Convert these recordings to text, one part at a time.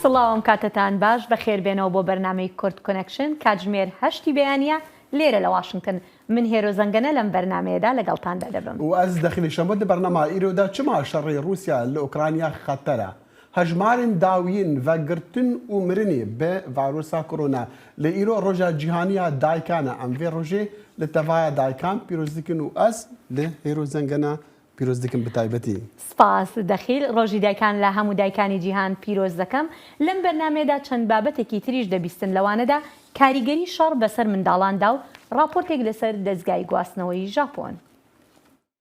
سڵاوم کاتتان باش بەخێربێنەوە بۆ بەرنمەی کورد کۆنکشن کاتژمێر هەشتی بەیانە لێرە لە واشنگتن من هێرۆ زەنگەنە لەم بەرنمەیەدا لەگەڵتاندا دەبم و ئەز دەخلی شەمە دە بەرنەما ئیرۆدا چما شەڕی رووسیا لە ئۆکرانیا خەتەرە هەژمارن داویین ڤە گرتن و مرنێ بە ڤایرۆسا کۆرۆنا، لە ئیرۆ رۆژا جیهانیا دایکانە، ئەم ڤێ رۆژێ لە تەڤایا دایکان پیرۆز دکن و ئەز لە هێرۆ زەنگەنا پیرۆز دکم بە تایبەتی. سپاس دەخیل، ڕۆژی دایکان لە هەموو دایکانی جیهان پیرۆز دەکەم، لەم بەرنامەیەدا چەند بابەتێکی تریش دەبیستن لەوانەدا کاریگەری شەڕ بەسەر منداڵاندا و ڕاپۆرتێک لەسەر دەزگای گواستنەوەی ژاپۆن.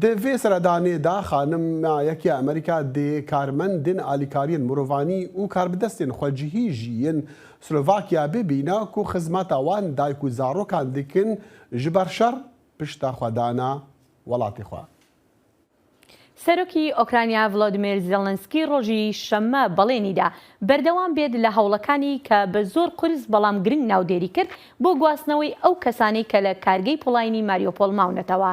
دە ڤێ سەردانێ دا خانم ە یە کێ ئەمریکا دێ کارمەن دێن ئالیکاریێن مروڤانی ئوو کاربدەستێن خوەجهی ژی ین سلۆڤاکیا بێ بینە کو خزمەتە وان دایک و زاڕۆکان دکن ژ بەر شەڕ پشتە خوە دانە وەڵاتێ خوە. سەرۆکی ئۆکرانیا ڤلۆدمێر زێلنسکی ڕۆژی شەممە بەڵێنی دا بەردەوام بێت لە هەوڵەکانی کە بە زۆر قورس بەڵام گرنگ ناودێری کرد بۆ گواستنەوەی ئەو کەسانەی کە لە کارگەی پۆڵاینی ماریۆپۆل ماونەتەوە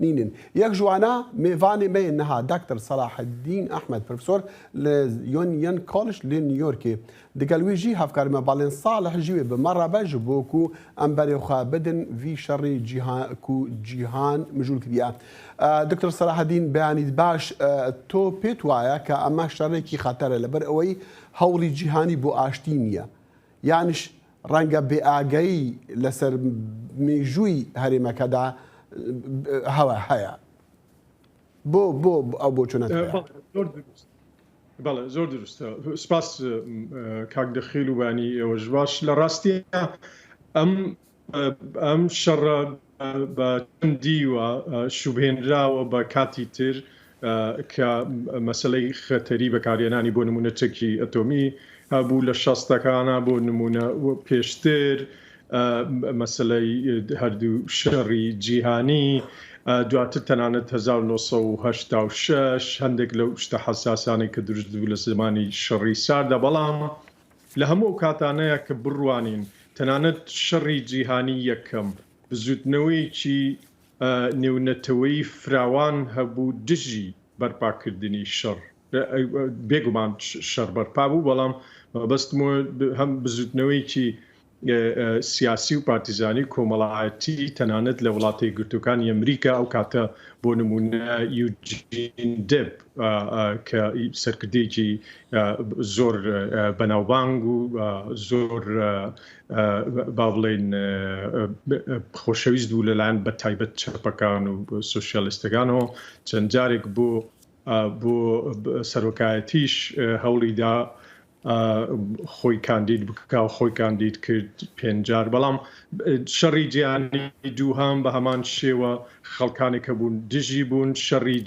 نینن یەک ژوانا مێڤانێ مەێ نها داکتر سەلاح دین ئەحمەد پرفسۆر لە یۆن یەن کۆلش لێ نیۆرکێ دگەل وی ژی هەفکار مە باڵێن ساڵح ژیوێ بە مە ڕابە ژ بۆ کو ئەم بەرێ خوە بدن وی شەڕی جیها کو جیهان مژول کریا دکتر سەلاح دین بەیانیت باش تۆ پێت وایە کە ئەمە شەڕێکی خەتەرە لەبەر ئەوەی هەوڵی جیهانی بۆ ئاشتی نییە یانیش ڕەنگە بێ ئاگایی لەسەر میژووی هەرێمەکەدا هەوە هەیە. بۆ بۆ ئەو بۆ چۆنە بەڵێ زۆر دروستە سپاس کاک دەخیل و بانی ئێوەش باش لە ڕاستیە ئەم ئەم شەڕە بە چەند دیوە شوبهێنراوە بە کاتی تر کە مەسەلەی خەتەری بەکارهێنانی بۆ نمونە چەکی ئەتۆمی هەبوو لە شەستەکانە بۆ نمونە پێشتر مەسلەی هەردوو شەڕی جیهانی دواتر تەنانەت 1986 هەندێک لەو شتە حساسانەی کە دروست بوو لە زمانی شەڕی ساردا بەڵام لە هەموو ئەو کاتانەیە کە بڕوانین تەنانەت شەڕی جیهانی یەکەم بزووتنەوەیەکی نێونەتەوەیی فراوان هەبوو دژی بەرپاکردنی شەڕ، بێگومان شەڕ بەرپا بوو بەڵام مەبەستم هەم بزووتنەوەیەکی سیاسی و پارتیزانی و کۆمەڵایەتی تەنانەت لە وڵاتە یەکگرتووەکانی ئەمریکا ئەو کاتە بۆ نموونە یوجین دێب کە سەرکردەیەکی زۆر بەناوبانگ و زۆر با بڵێین خۆشەویست بوو لەلایەن بە تایبەت چەپەکان و سۆسیالستەکانەوە چەند جارێک بۆ بۆ سەرۆکایەتیش هەوڵیدا خۆی کاندید بکا و خۆی کاندید کرد پێنج جار بەڵام شەڕی جیهانی دووهەم بە هەمان شێوە خەڵکانێک کە بوون دژی بوون شەڕی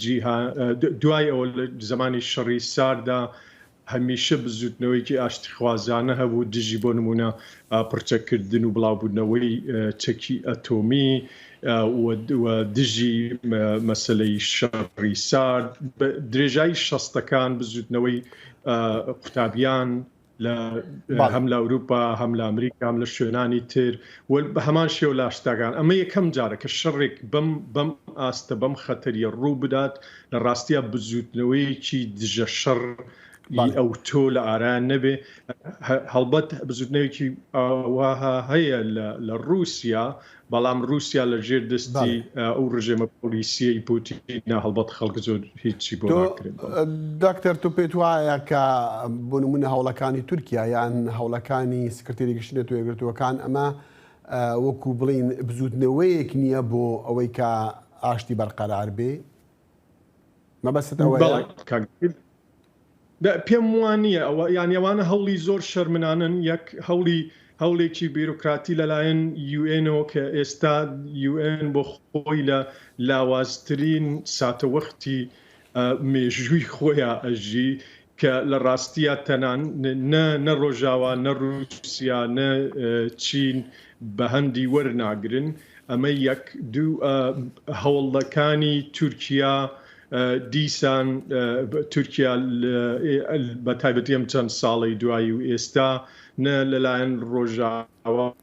دوای ئەوە لە زمانی شەڕی ساردا هەمیشە بزوتنەوەیکی ئاشتخوازانە هەبوو دژی بۆ نمونە پڕچەکردن و بڵاوبوونەوەی چەکی ئەتۆمی و دژی مەسلەی شەڕی سارد درێژایی شەستەکان بزوتنەوەی قوتابیان لە هەم لە ئەوروپا هەم لە ئەمریکام لە شوێنانی تر بە هەمان شێو لاشتاگان ئەمە یەکەم جارە کە شەڕێک بم بم ئاستە بەم خەتەریە ڕوو بدات لە ڕاستیا بزوتنەوەیەکی دژە شەڕ ئەو تۆ لە ئاران نەبێ هەڵبەت بزوتنەوەکی ئاواها هەیە لە ڕوسیا بەڵام روسیا لە ژێر دەستی ئەو رژێمە پۆلیسیەی پوتینە هەڵبەت خەڵک زۆر هیچی بۆ ناکرێت بەڵام. دکتر تو پێت وایە کە بۆ نمونە هەوڵەکانی تورکیا یان هەوڵەکانی سکرتێری گشتی نەتەوە یەکگرتووەکان ئەمە وەکو بڵین بزوتنەوەیەک نیە بۆ ئەوەی کە ئاشتی بەرقەرار بێ؟ مەبەستت ئەوەیە؟ بەڵێ کاک دیر، دە پێم وا نییە ئەوە یان ئەوانە هەوڵی زۆر شەرمنانەن یەک هەوڵی هەوڵێکی بیرۆکراتی لەلایەن یوئێنەوە کە ئێستا یوئێن بۆ خۆی لە لاوازترین ساتەوەختی مێژووی خۆیان ئەژی کە لە ڕاستیا تەنان نە نە ڕۆژاوا نە ڕووسیا نە چین بە هەندی وەرناگرن ئەمە یەک دوو هەوڵەکانی تورکیا دیسان تورکیا بە تایبەتی ئەم چەند ساڵەی دوایی و ئێستا نە لەلایەن ڕۆژاوا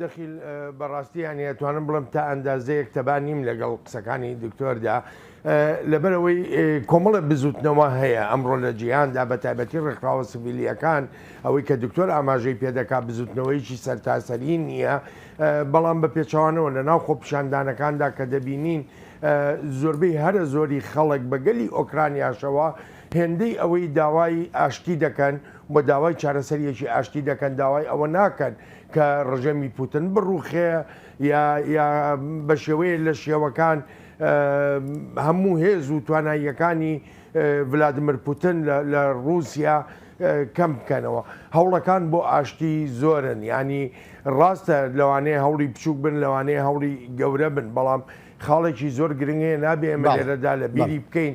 دەخیل، بەڕاستی یانی ئەتوانم بڵێم تا ئەندازەیەک تەبا نیم لەگەڵ قسەکانی دکتۆردا، لەبەرئەوەی کۆمەڵێ بزووتنەوە هەیە ئەمڕۆ لە جیهاندا بە تایبەتی ڕێکخراوە سڤیلییەکان، ئەوەی کە دکتۆر ئاماژەی پێ دەکات بزووتنەوەیەکی سەرتاسەریی نییە، بەڵام بە پێچەوانەوە لە ناو خۆپیشاندانەکاندا کە دەبینین زۆربەی هەرە زۆری خەڵک بە گەلی ئۆکرانیاشەوە هێندەی ئەوەی داوای ئاشتی دەکەن و داوای چارەسەرییەکی ئاشتی دەکەن، داوای ئەوە ناکەن کە ڕژێمی پوتن بڕووخێ یا یا بە شێوەیەک لە شێوەکان هەموو هێز و تواناییەکانی ڤلادمر پوتن لە لە ڕووسیا کەم بکەنەوە. هەوڵەکان بۆ ئاشتی زۆرن، یانی ڕاستە لەوانەیە هەوڵی بچووک بن، لەوانەیە هەوڵی گەورە بن، بەڵام خاڵێکی زۆر گرنگ هەیە نابێ ئێمە بەڵێ لێرەدا لە بەڵێ. بیری بکەین،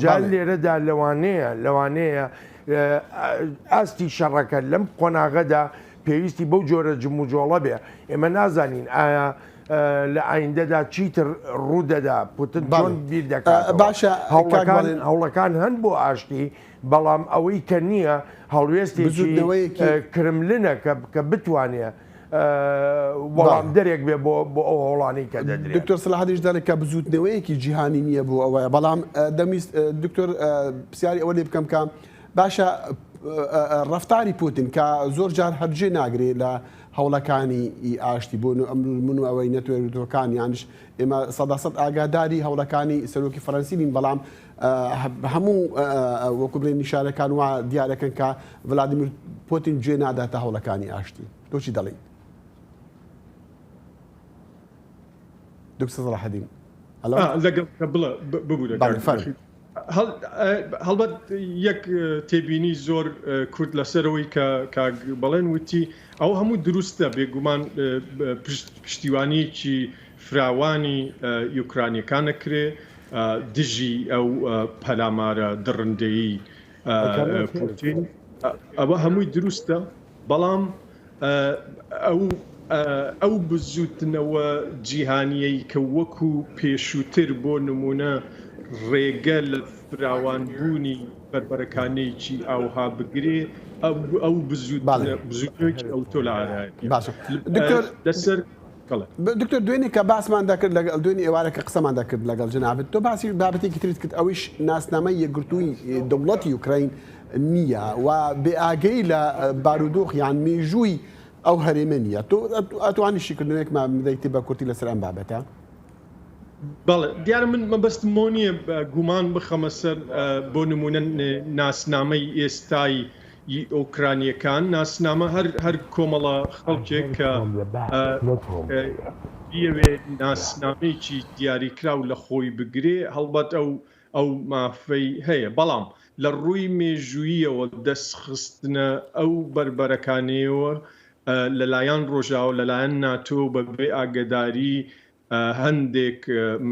جا لێرەدا لەوانەیە لەوانەیە ئاستی شەڕەکە لەم قۆناغەدا پێویستی بەو جۆرە جموجۆڵە بێ ئێمە نازانین ئایا لە ئایندەدا چیتر ڕوودەدا پوتن بەڵم بیر دەکات باشە هەوڵەکان هەوڵەکان هەن بۆ ئاشتی بەڵام ئەوەی کە نییە هەڵوێستێکی کرملنە کە بتوانێت وەڵامدەرێک بێ بۆ ئەو هەوڵانەی کە دەدرێت دکتۆر سلاحدیش دەڵێت کە بزوتنەوەیەکی جیهانی نییە بۆ ئەوەیە بەڵام دەمیست دکتۆر پرسیاری ئەوە لێ بکەم کە باشە ڕفتاری پوتین کە زۆر جار هەرجێ ناگرێت لە هەوڵەکانی ئاشتی بۆن و ئەمرور من و ئەوەی نەتوێتەکان یانش ئێمە سەداسەد ئاگاداری هەوڵەکانی سەرۆکی فەرەنسیین بەڵام هەموو وەکو بڵێن نیشانەکان وا دیارەکەن کە ڤلادیمیر پۆتین گوێ ناداتە هەوڵەکانی ئاشتی تۆچی دەڵێیت دکتۆر ڕەحەدین لەگەڵ بڵە ببوورە هەڵبەت یەک تێبینی زۆر کورد لەسەرەوەی کە کاک بەڵێن وتی ئەو هەموو دروستە بێگومان پشتیوانیکی فراوانی یوکرانیەکانە کرێ دژی ئەو پەلامارە دڕندەیەی پوتین ئەوە هەمووی دروستە بەڵام ئەو ئەو بزوتنەوە جیهانیەی کە وەکو پێشووتر بۆ نمونە ڕێگە لە فراوانبوونی بەربەرەکانێکی ئاوها بگرێ ئەو بزوت بزوتنەوەی ئەوتۆ لە عێراق لەسەر کەڵک. دکتۆر دوێنێ کە باسمان دەکرد لەگە، دوێنێ ئێوارە کە قسەمان دەکرد لەگەڵ جەنابت، تۆ باسی بابەتێکی ترت کرد ئەویش ناسنامەی یەکگرتووی دەوڵەتی یوکرەین نییە و بێ ئاگەیی لە بارودۆخ یان مێژووی ئەو هەرێمە نییە. تۆ ئەتوانی شیکردنەوەیەکمان بدەیت بە کورتی لەسەر ئەم بابەتە؟ بەڵێ، دیارە من مەبەستم بەوە نییە گومان بخەمە سەر بۆ نموونە ناسنامەی ئێستای ی ئۆکرانییەکان ناسنامە هەر هەر کۆمەڵە خەڵکێک کە بیەوێ ناسنامەیەکی دیاریکراو لە خۆی بگرێ هەڵبەت ئەو ئەو مافەی هەیە بەڵام لە ڕووی مێژووییەوە دەست خستنە ئەو بەربەرەکانەیەوە لەلایەن ڕۆژاو لەلایەن ناتۆ بەبێ ئاگەداری هەندێک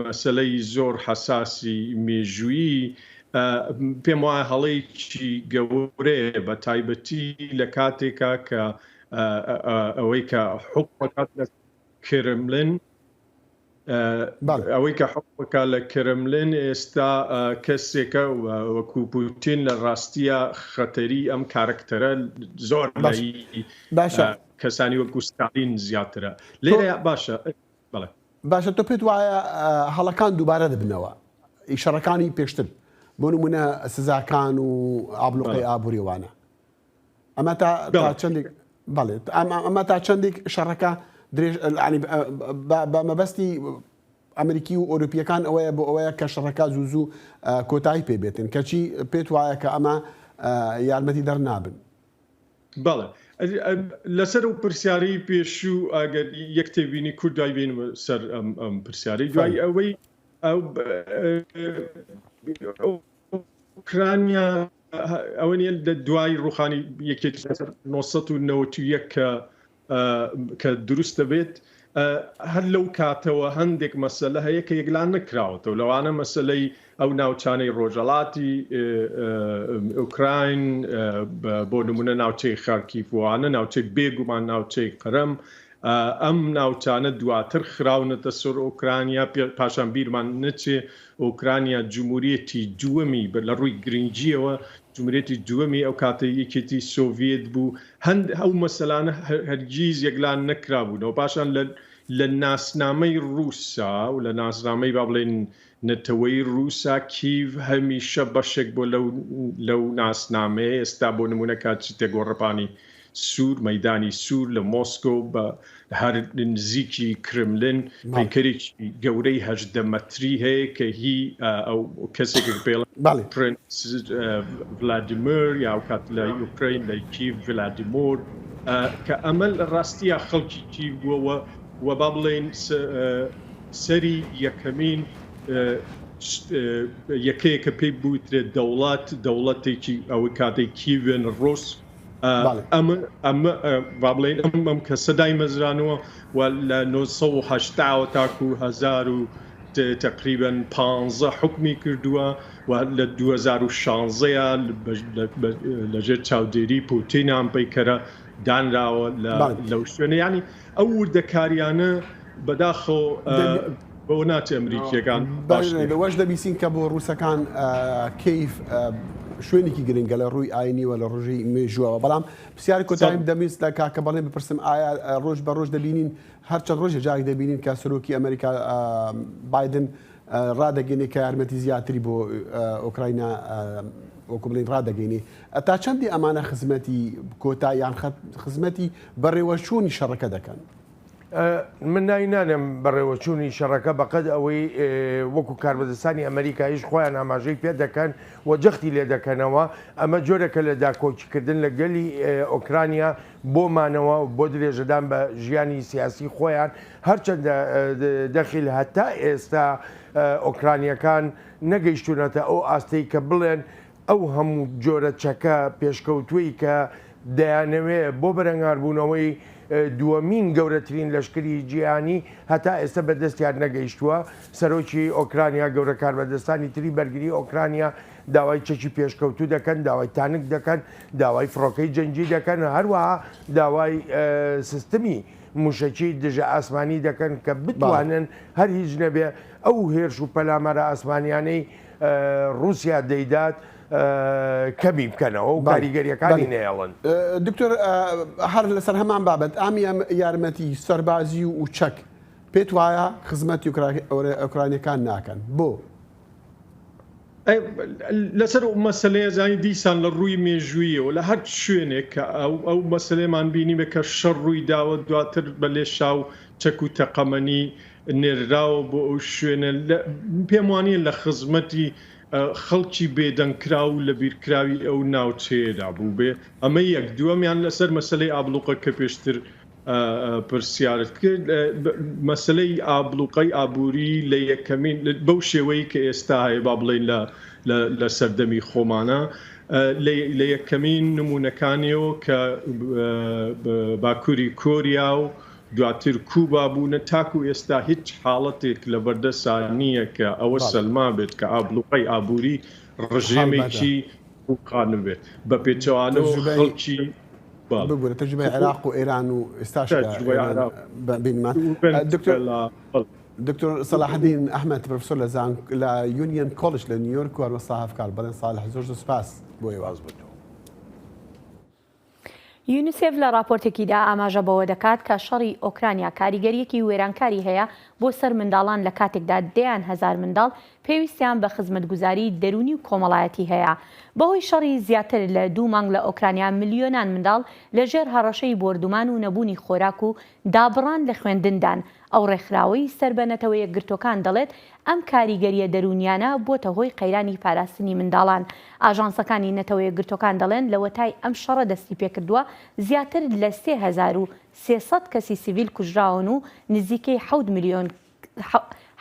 مەسەلەی زۆر حەساسی مێژوویی پێم وایە هەڵەیەکی گەورەیە بە تایبەتی لە کاتێکا کە ئەوەی کە حکومەکات لە کرملن ئەوەی کە حکومەکە لە کرملن ئێستا کەسێکە وەکو پوتین لە ڕاستیە خەتەری ئەم کارکتەرە زۆر باشە کەسانی وەکو ستالین زیاترە لێرە باشە بەڵێ. باشە تۆ پێت وایە هەڵەکان دووبارە دەبنەوە ئی شەڕەکانی پێشتر بۆ نمونە سزاکان و ئابلوقەی ئابووری وانە ئەمە تا تا چەندێک بەڵێت ئەمە تا چەندێک شەڕەکە درێژ بە مەبەستی ئەمریکی و ئۆروپیەکان ئەوەیە بۆ ئەوەیە کە شەڕەکە زوو زوو کۆتایی پێبێتن کەچی پێت وایە کە ئەمە یارمەتی دەرنابن بەڵێ لەسەر ئەو پرسیارەی پێشوو ئەگەر یەک تێبینی کورت دوای بێنمە سەر ئەم پرسیارەی دوای ئەوەی ئۆکرانیا ئەوە نیە لە دوای ڕوخانی یەکێتی لەسەر 991 کە کە دروست دەبێت هەر لەو کاتەوە هەندێک مەسەلە هەیە کە یەکلان نەکراوەتەوە لەوانە مەسلەی ئەو ناوچانەی ڕۆژەڵاتی ئۆکراین بۆ نمونە ناوچەی خارکیفوانە ناوچەی بێگومان ناوچەی قەرم ئەم ناوچانە دواتر خراونەتە سەر ئۆکرانیا پاشان بیرمان نەچێ ئۆکرانیا جموریەتی دووەمی لە ڕووی گرنگییەوە جموریەتی دووەمی ئەو کاتەی یەکێتی سۆڤیەت بوو هەند ئەو مەسەلانە هەرگیز یەکلا نەکرابوونەوە پاشان لە لە ناسنامەی ڕووسا و لە ناسنامەی با بڵێن نەتەوەی ڕووسا کیڤ هەمیشە بەشێک بۆ لەو لەو ناسنامەیە ئێستا بۆ نمونە کاتچی تێگۆڕەپانی سوور، مەیدانی سوور لە مۆسکۆ بە هەر نزیکی کرملن پەیکەرێکی گەورەی هەژدە مەتری هەیە کە هی ئەو کەسێکە پێڵێن پرنس ڤلادیمر یا ئەوکات لە یوکرەین لە کیڤ ڤلادیمۆر کە ئەمە لە ڕاستیە خەڵکی کیڤ بووەوە و با بڵێین سەری یەکەمین یەکەیەکە پێی بوترێت دەوڵات دەوڵەتێکی ئەوەی کاتێک کیڤێن ڕۆس با بڵێن ئەم کەسە دایمەزرانەوە و لە 1970ەوە تاکو هەزار و تقریبن پ حکمی کردووە و لە 2016یان لەژێر چاودێری پوتینیان پەیکەرە دانراوە لەو شوێنە ینی ئەو وردەکاریانە بەداخەوە بەوە ناچێ ئەمریکییەکان باش نێ. لەوەش دەبیسین کە بۆ ڕووسەکان کیف شوێنیکی گرنگە لە ڕووی ئاینی و لە ڕژی مێژووەوە. بەڵام پرسیاری کۆتاییم دەمویست لە کاکە بەڵێن بپرسم ئایا ڕۆژ بە ڕۆژ دەبینین هەرچەند ڕۆژێ جارێک دەبینین کە سەرۆکی ئەمریکا بایدن ڕادەگەینێ کە یارمەتی زیاتری بۆ ئۆکراینا وەکو بڵین ڕادەگەینێ تا چەندی ئەمانە خزمەتی کۆتا یان خزمەتی بەڕێوەچوونی شەڕەکە دەکەن. من ناوی نانێم بەڕێوەچوونی شەڕەکە بەقەد ئەوەی وەکو کاربەدەستانی ئەمریکایش خۆیان ئاماژەی پێ دەکەن و جەختی لێ دەکەنەوە ئەمە جۆرەکە لە داکۆکیکردن لە گەلی ئۆکرانیا بۆ مانەوە و بۆ درێژەدان بە ژیانی سیاسی خۆیان، هەرچەندە دەخیل هەتا ئێستا ئۆکرانییەکان نەگەیشتوونەتە ئەو ئاستەی کە بڵێن ئەو هەموو جۆرە چەکە پێشکەوتووەی کە دەیانەوێ بۆ بەرەنگاربوونەوەی دووەمین گەورەترین لەشکری جیهانی هەتا ئێستا بە دەستیان نەگەیشتووە. سەرۆکی ئۆکرانیا، گەورە کاربەدەستانی تری بەرگری ئۆکرانیا داوای چەکی پێشکەوتوو دەکەن، داوای تانک دەکەن، داوای فڕۆکەی جەنگی دەکەن، هەروەها داوای سیستمی موشەکی دژە ئاسمانی دەکەن کە بتوانن هەر هیچ نەبێ ئەو هێرش و پەلامارە ئاسمانیانەی روسیا دەیدات کەمی بکەنەوە و کاریگەریەکانی نەیەڵن. دکتۆر هەر لەسەر هەمان بابەت ئام یارمەتی سەربازی و چەک پێت وایە خزمەتی ئۆکرانیەکان ناکەن بۆ؟ لەسەر ئەو مەسەلەیە زانی دیسان لە ڕووی مێژوویەوە لە هەر شوێنێک کە ئەو ئەو مەسلەیەمان بینیمە کە شەڕ ڕووی داوە دواتر بە لێشا و چەک و تەقەمەنی نێرراوە بۆ ئەو شوێنە پێم وانە لە خزمەتی خەڵکی بێدەنگکرا و لە بیرکراوی ئەو ناوچەیەدا بوو بێ ئەمە یەک دووەمیان لەسەر مەسلەی ئابلوقە کە پێشتر پرسیارت کرد مەسلەی ئابڵوقەی ئابووری لە یەکەمین بەو شێوەی کە ئێستا هەیە با بڵین لە لە سەردەمی خۆمانە لە یەکەمین نمونونەکانیەوە کە باکووری کۆریا و دواتر کوبا بوونە تاکو ئێستا هیچ حاڵەتێک لە بەردەسا نییە کە ئەوە سەلما بێت کە ئابلوقی ئابووری ڕژێمێکی قانون بێت بە پێچوانەوە خەڵکی ببورە تەجروبەی عێراق و ئێران و ئێستاش دکتۆر سەلاحدین ئەحمد پرۆفسۆر لە زان لە یونیەن کۆلش لە نیویۆرک و مەستا هەفکار بەڵێن ساڵ زۆر زۆر سپاس بۆ ئێواز بوو یونیسف لە راپۆرتێکیدا ئاماژە بەوە دەکات کە شەڕی ئۆکرانیا کاریگەریەکی وێرانکاری هەیە بۆ سەر منداڵان لە کاتێکدا دەیان هەزار منداڵ پێویستیان بە خزمەتگوزاری دەروونی و کۆمەڵایەتی هەیە. بەهۆی شەڕی زیاتر لە دوو مانگ لە ئۆکرانیا ملیۆنان منداڵ لەژێر هەڕەشەی بۆردومان و نەبوونی خۆراک و دابڕان لە خوێندندان، ئەو ڕێکخراوەی سەر بە نەتەوە یەکگرتووەکان دەڵێت ئەم کاریگەرییە دەروونیانە بووەتە هۆی قەیرانی پاراستنی منداڵان. ئاژانسەکانی نەتەوە یەکگرتووەکان دەڵێن لەوەتای ئەم شەڕە دەستیپێکردووە زیاتر لە سێ هەزار و سێ سەد کەسی سڤیل کوژراون و نزیکەی حەوت ملیۆن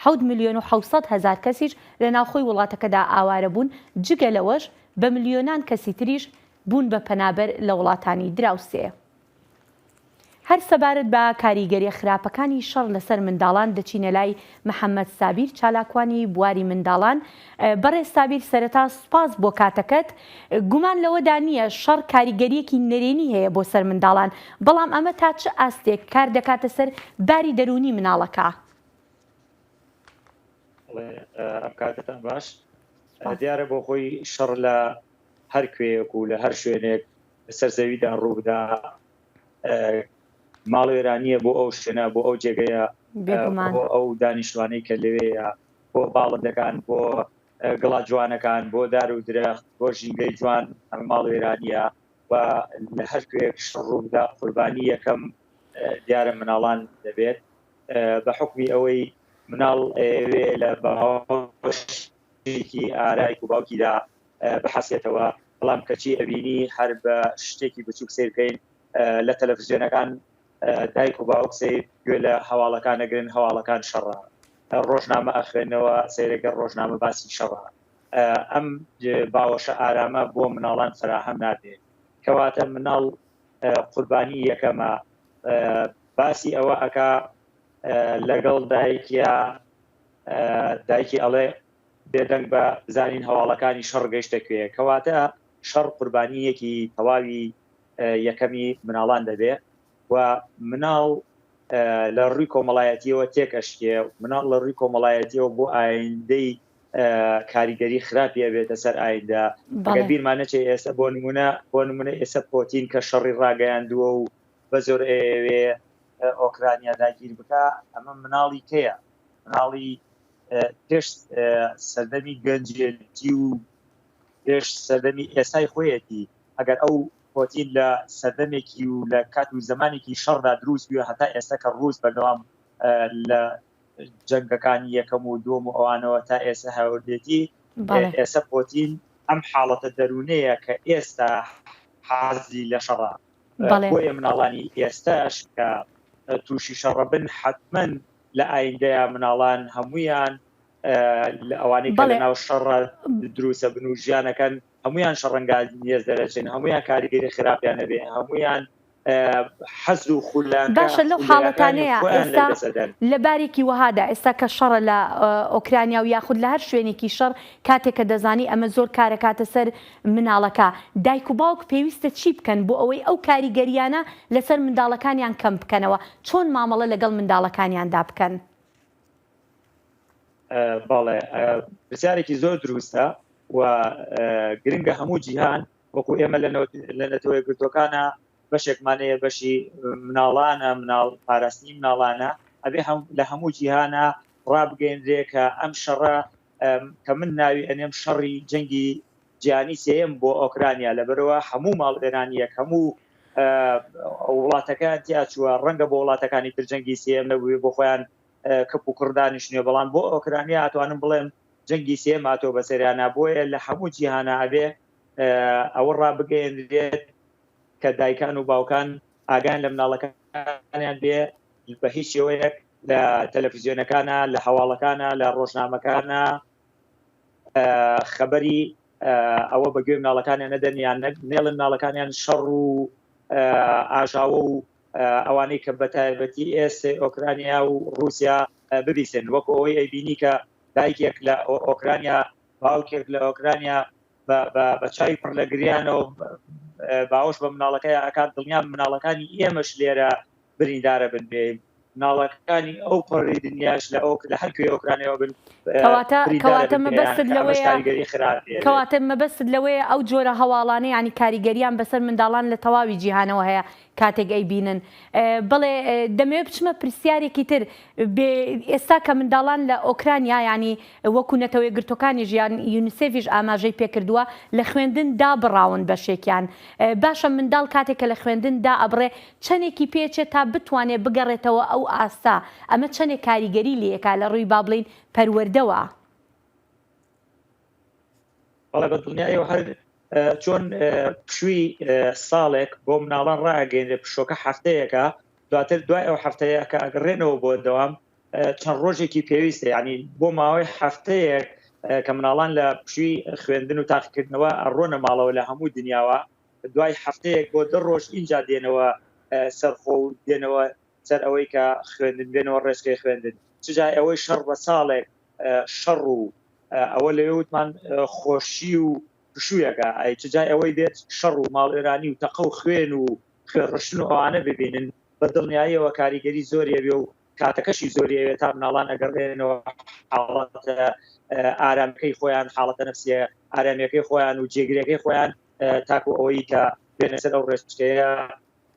حەوت ملیۆن و حەوت سەد هەزار کەسیش لە ناوخۆی وڵاتەکەدا ئاوارە بوون، جگە لەوەش بە ملیۆنان کەسی تریش بوون بە پەنابەر لە وڵاتانی دراوسێ. هەر سەبارەت بە کاریگەریە خراپەکانی شەڕ لەسەر منداڵان دەچینە لای محەمەد سابیر چالاکوانی بواری منداڵان، بەڕێز سابیر سەرەتا سوپاس بۆ کاتەکەت. گومان لەوەدا نییە شەڕ کاریگەرییەکی نەرێنی هەیە بۆ سەر منداڵان، بەڵام ئەمە تا چ ئاستێک کار دەکاتە سەر باری دەروونی مناڵەکە؟ ئەم کاتەتان باش. دیارە بۆ خۆی شەڕ لە هەر کوێیەک و لە هەر شوێنێک لەسەر زەویدا ڕووبدا ماڵوێرانییە بۆ ئەو شوێنە بۆ ئەو جێگەیە ئەو دانیشتوانەی کە لەوێیە، بۆ باڵندەکان، بۆ گڵە جوانەکان، بۆ دار و درەخت، بۆ ژینگەی جوان ئەمە ماڵوێرانییە و لە هەر کوێیەک شەڕ ڕووبدا قوربانی یەکەم دیارە مناڵان دەبێت بە حوکمی ئەوەی مناڵ ئەیەوێ لە باوەشێکی ئارایک و باوکیدا بحەسێتەوە بەڵام کەچی ئەبینی هەر بە شتێکی بچووک سەیرکەین لە تەلەفزیۆنەکان دایک و باوک سەیر گوێ لە هەواڵەکان ئەگرن، هەواڵەکان شەڕە. ڕۆژنامە ئەخوێنەوە، سەیر ئەگەر ڕۆژنامە باسی شەڕە. ئەم باوەشە ئارامە بۆ مناڵان فەراهەم نابێت. کەواتە مناڵ قوربانی یەکەمە. باسی ئەوە ئەکا لەگەڵ دایکیا، دایکی ئەڵێ بێدەنگ بە بزانین هەواڵەکانی شەڕ گەشتە کوێ. کەواتە شەڕ قوربانییەکی تەواوی یەکەمی مناڵان دەبێ و مناڵ لە ڕووی کۆمەڵایەتیەوە تێکەشکێ مناڵ لە ڕووی کۆمەڵایەتیەوە بۆ ئایندەی کاریگەری خراپی ئەبێتە سەر ئایدا بیرمان نەچێ ئێستا بۆ نمونە بۆ نمونە ئێستا پۆتین کە شەڕی ڕاگەیاندووە و بە زۆر ئەوێ ئۆکرانیا داگیر بکە ئەمە مناڵی کەیە مناڵی پێش سەردەمی گەنجێتی و پێش سەردەمی ئێستای خۆیەتی ئەگەر ئەو پۆتین لە سەردەمێکی و لە کات و زەمانێکی شەڕدا دروست بویە هەتا ئێستا کە ڕووس بەردەوام لە جەنگەکانی یەکەم و دووەم و ئەوانەوە تا ئێستا هەوردێتی ئێستا پۆتین ئەم حاڵەتە دەروونەیە کە ئێستا حازی لە شەڕە بۆیە مناڵانی ئێستاش کە تووشی شەڕە بن حتمما لە ئایندەیە مناڵان هەمویان لە ئەوانی کە لە ناو شەڕ دروسە بن و ژیانەکەن هەمویان شەڕەنگا نیێز دەرەچن هەمویان کاریگەری خراپیان نەبێ هەمویان حەز و خولان باشە لەو حاڵەتانەیە ئێستا لە بارێکی وەهادا ئێستا کە شەڕە لە ئۆکرانیا و یاخود لە هەر شوێنێکی شەڕ کاتێکە دەزانی ئەمە زۆر کارەکاتە سەر مناڵەکە دایک و باوک پێویستە چی بکەن بۆ ئەوەی ئەو کاریگەریانە لەسەر منداڵەکانیان کەم بکەنەوە چۆن مامەڵە لەگەڵ منداڵەکانیاندا بکەن بەڵێ پرسیارێکی زۆر دروستە و گرنگە هەموو جیهان وەکو ئێمە لە نەتەوەی گرتوەکانە بەشێکمانەیە بەشی مناڵانە مناڵ پاراستنی مناڵانە ئەبێ هەم لە هەموو جیهانە ڕابگەێنرێ کە ئەم شەڕە کە من ناوی ئەنێم شەڕی جەنگی جیهانی سێیەم بۆ ئۆکرانیا لەبەرەوە هەموو ماڵوێرانیەک هەموو وڵاتەکەیان تیاچووە ڕەنگە بۆ وڵاتەکانی تر جەنگی سێم نەبووێ بۆ خۆیان کەپ و کوڕدانیش نوێ بەڵام بۆ ئۆکرانیا ئەتوانم بڵێم جەنگی سێم ئاتۆ بەسەریانە بۆیە لە هەموو جیهانە ئەبێ ئەوە ڕابگەێنرێت کە دایکان و باوکان ئاگان لە مناڵەکانیان بێ بە هیچ شێوەیەک لە تەلەفیزیۆنەکانە لە هەواڵەکانە لە ڕۆژنامەکانە خەبەری ئەوە بە گوێ مناڵەکانیان نەدەن یان نێڵن مناڵەکانیان شەڕ و ئاژاوە و ئەوانەی کە بە تایبەتی ئێسێ ئۆکرانیا و رووسیا ببیسن وەکو ئەوەی ئەیبینی کە دایکێک لە ئۆکرانیا باوکێک لە ئۆکرانیا بە چای پڕ لە گریانەوە باوەش بە مناڵەکەی ئەکات دڵنیام مناڵەکانی ئێمەش لێرە بریندارە بن بێ ناڵەکانی ئەو پەڕی دنیاش لە ئەوک لە هەر کوێ ئۆکرانەوە بن کەواتە مەبەستت لەوەیە ئەو جۆرە هەواڵانە ینی کاریگەریان بەسەر منداڵان لە تەواوی جیهانەوە هەیە کاتێک ئەی بینن بڵێ دەمەوێت بچمە پرسیارێکی تر ئێستا کە منداڵان لە ئۆکرانیا ینی وەکو نەتەوەی گرتوەکانی ژیان یونیسێفیش ئاماژەی پێکردووە لە خوێندن دابڕاون بەشێکیان باشە منداڵ کاتێک کە لە خوێندن دا ئەبڕێ چەندێکی پێچێت تا بتوانێت بگەڕێتەوە ئەو ئاستە، ئەمە چەندێک کاریگەری لێکا لە ڕووی با بڵێین پەروەردەوە؟ بەڵێ بە دڵنیایەوە هەر چۆن پشووی ساڵێک بۆ مناڵان ڕاگەێنێ پشۆکە هەفتەیەەکە دواتر دوای ئەو هەفتەیە کە ئەگەڕێنەوە بۆ دەوام چەند ڕۆژێکی پێویستە ینی بۆ ماوەی هەفتەیەک کە مناڵان لە پشووی خوێندن و تاقیکردنەوە ئەڕۆنە ماڵەوە لە هەموو دنیاوە دوای هەفتەیەک بۆ دە ڕۆژ ئینجا دێنەوە سەرخۆ و دێنەوە سەر ئەوەی کە خوێندن بێنەوە ڕێچکەی خوێندن چ جای ئەوەی شەڕ بە ساڵێک شەڕ و ئەوە لەوێ وتمان خۆشی و پشوویەکە ئای چ جای ئەوەی بێت شەڕ و ماڵوێرانی و تەقە و خوێن و خوێڕشتن و ئەوانە ببینن بە دڵنیاییەوە کاریگەری زۆری ئەبێ و کاتەکەشی زۆری ئەوێت تا مناڵان ئەگەڕێنەوە حاڵەتە ئارامیەکەی خۆیان حاڵەتە نەفسیە ئارامیەکەی خۆیان و جێگرەکەی خۆیان تاکو ئەوەی کە بێنە سەر ئەو ڕێچکەیە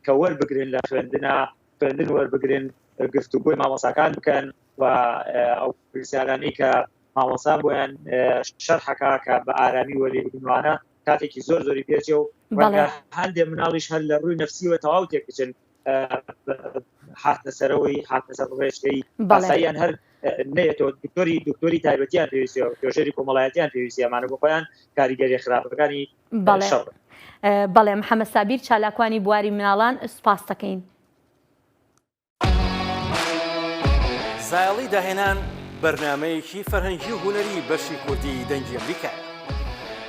کە وەربگرن لە خوێندنا خوێندن وەربگرن گفتوگۆی مامۆساکان بکەن و ئەو پرسیارانی کە مامۆسا بۆیان شەرحەکە کە بە ئارامی وەری بگنوانە کاتێکی زۆر زۆری پێچێ و هەندێ مناڵیش هەر لە ڕووی نفسیوە تەواو تێکچن هاتە سەرەوەی هاتە سەر ڕێژەی بەڵێیان هەر نێتەوە دکتۆری دکتۆری تایبەتیان پێویستە تۆژێری کۆمەڵایەتیان پێویستیمانە بۆ خۆیان کاریگەری خراپەکانی بەڵێ بەڵێ محەممە سابیر چالاکوانی بواری مناڵان سپاس دەکەین. زایڵی داهێنان بەرنامەیەکی فەرهەنگی و هونەری بەشی کوردی دەنگی ئەمریکایە.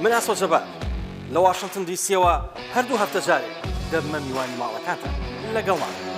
من ئاسۆ جەبار لە واشنتن دی سیەوە هەر دوو هەفتە جارێک دەبمە میوانی ماڵەکانتان. لەگەڵمان بن.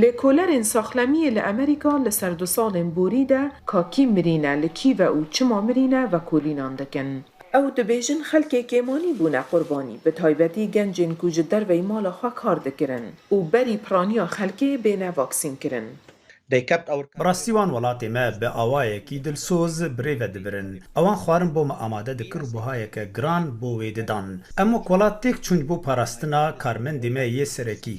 لێکۆلەرێن ساخلەمیێ لە ئەمریکا لە سەردوساڵێن بووری دە کا کی مرینە لە کیڤە ئوو چما مرینە ڤە کولینان دکن. ئەو دبێژن خەلکێ کێمانی بوونە قوربانی بە تایبەتی گەنجێن کو جە دەرڤەی ماڵە خوە کار دکرن ئوو بەری پرانیا خەلکێ بێنە ڤاکسین کرن. بەڕاستی وان وەڵاتێ مە بە ئاوایە کی دلسۆز برێڤە دبرن. ئەوان خوارن بۆ مە ئامادە دکر و بەهایە کە گران بۆ وێ ددان. ئەم وەک وەڵات تێک چووند بۆ پاراستنا کارمەندێ مە یێ سەرەکی.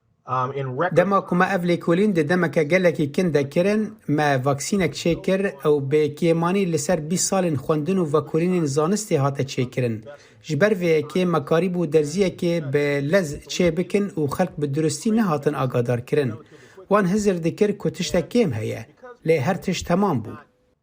دە مە کومە ئەڤ لێکۆلین دە دە مە کە گە لە کی کن دە کرن مە ڤاکسینە ک چێ کر ئە و بێ کێ مانی لە سەر بیست سالین خوەندن و ڤاکولینین زانستێ هاتە چێ کرن ژ بەر ڤێ یە کێ مە کاریب و دەرزیە کێ بە لە ز چێ بکن و خەلک بە دروستی نە هاتن ئاگادار کرن وان هزر دکر کو تشتە کێم هە یە لێ هەر تشت تە مام بوو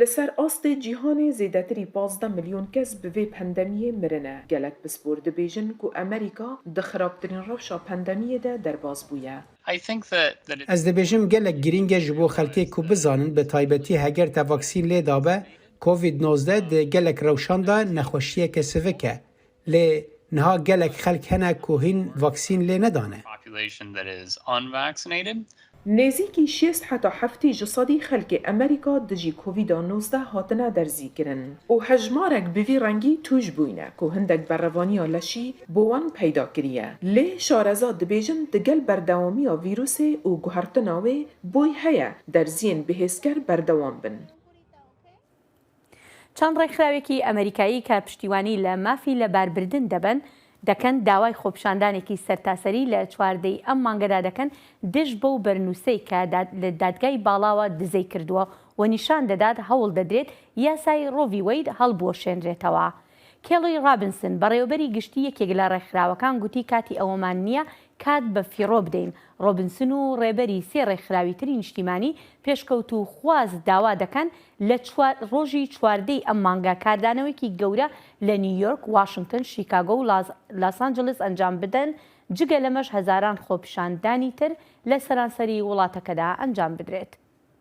لەسەر ئاستێ جیهانێ زێدەتری پازدە ملیۆن کەس بە ڤێ پەندەمییێ مرنە، گەلەک پسپۆر دبێژن کو ئەمریکا دە خرابترین رەوشا پەندەمییێ دە دەرباز بویە. ئەز دبێژم گەلەک گرینگە ژ بۆ خەلکێ کو بزانن بە تایبەتی هەگەر تە ڤاکسین لێ دابە، کۆڤید نۆزدە دە گەلەک رەوشان دا نەخوەشییەکە سڤکە، لێ نها گەلەک خەلک هەنە کو هین ڤاکسین لێ نەدانە. نێزیکی شێست حەتا حەفتی جی سەدی خەلکێ ئەمەریکا دژی کۆڤیدا نۆزدە هاتنە دەرزیکرن ئوو هەژمارەک بڤی رەنگی توش بوینە کو هندەک بەرەڤانیا لەشی بۆ وان پەیدا کریە لێ شارەزا دبێژن دگەل بەردەوامیا ڤیروسێ ئوو گوهڕتناێ بۆی هەیە دەرزیێن بهێزکەر بەردەوام بن. چەند ڕێکخراوێکی ئەمەریکایی کە پشتیوانی لە مافی لەباربردن دەبەن دەکەن داوای خۆپیشاندانێکی سەرتاسەری لە چواردە ی ئەم مانگەدا دەکەن دژ بەو بەرنووسەی کە لە دادگای باڵاوە دزەی کردووە و نیشان دەدات هەوڵ دەدرێت یاسای ڕۆ ڤی وەید هەڵبوەشێنرێتەوە. کێڵی ڕابنسن، بەڕێوەبەری گشتی یەکێک لە ڕێکخراوەکان گوتی کاتی ئەوەمان نییە کات بە فیڕۆ بدەین. ڕۆبنسن و ڕێبەری سێ ڕێکخراوی تری نیشتیمانی پێشکەوتووخواز داوا دەکەن لە چوار ڕۆژی چواردەی ئەم مانگە کاردانەوەیەکی گەورە لە نیویۆرک، واشنگتن، شیکاگۆ و لاسانجلس ئەنجام بدەن، جگە لەمەش هەزاران خۆپیشاندانی تر لە سەرانسەری وڵاتەکەدا ئەنجام بدرێت.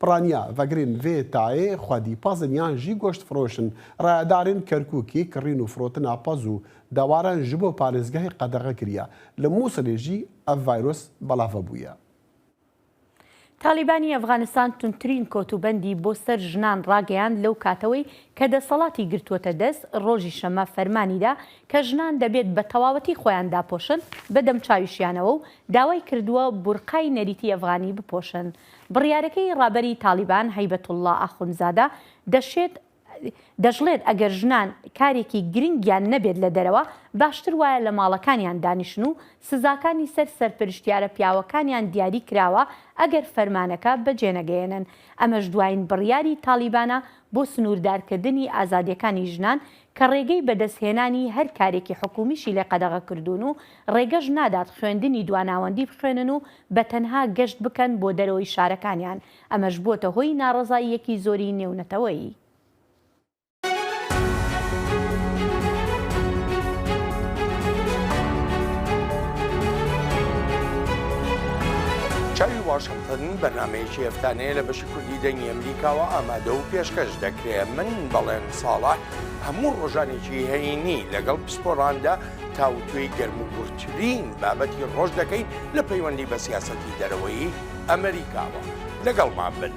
پڕانیا ڤەگرین ڤێ تاێ خوەدی پەزن یان ژی گۆشت فڕۆشن ڕایەدارن کەرکووکی کڕین و فڕۆتن ئاپەز و داواران ژبۆ پارێزگاێ قەدەغە کریە لە مووسڵێ ژی ئەڤ ڤایرۆس بەڵاڤە بویە. تاڵیبانی ئەفغانستان توندترین کۆتوبەندی بۆ سەر ژنان ڕاگەیاند لەو کاتەوەی کە دەسەڵاتی گرتووەتە دەست، ڕۆژی شەممە فەرمانی دا کە ژنان دەبێت بە تەواوەتی خۆیان داپۆشن بە دەمچاویشیانەوە و داوای کردووە بورقای نەریتی ئەفغانی بپۆشن. بڕیارەکەی ڕابەری تاڵیبان هەیبەتوڵڵا ئاخونزادە دەشێت دەشڵێت ئەگەر ژنان کارێکی گرنگیان نەبێت لە دەرەوە، باشتر وایە لە ماڵەکانیان دانیشن و سزاکانی سەر سەرپەرشتیارە پیاوەکانیان دیاری کراوە ئەگەر فەرمانەکە بەجێنەگەیەنن. ئەمەش دوایین بڕیاری تاڵیبانە بۆ سنووردارکردنی ئازادییەکانی ژنان کە ڕێگەی بەدەستهێنانی هەر کارێکی حکوومیشی لێ قەدەغە کردوون و ڕێگەش نادات خوێندنی دواناوەندی بخوێنن و بە تەنها گەشت بکەن بۆ دەرەوەی شارەکانیان، ئەمەش بووەتە هۆی ناڕەزاییەکی زۆری نێونەتەوەیی. چاوی واشنتن بەرنامەیەکی هەفتانەیە لە بەشی کوردی دەنگی ئەمریکاوە ئامادە و پێشکەش دەکرێ. من بەڵێن. ساڵح هەموو ڕۆژانێکی هەینی لەگەڵ پسپۆڕاندا تاوتوێی گەرموگوڕترین بابەتی ڕۆژ دەکەین لە پەیوەندی بە سیاسەتی دەرەوەیی ئەمەریکاوە. لەگەڵمان بن.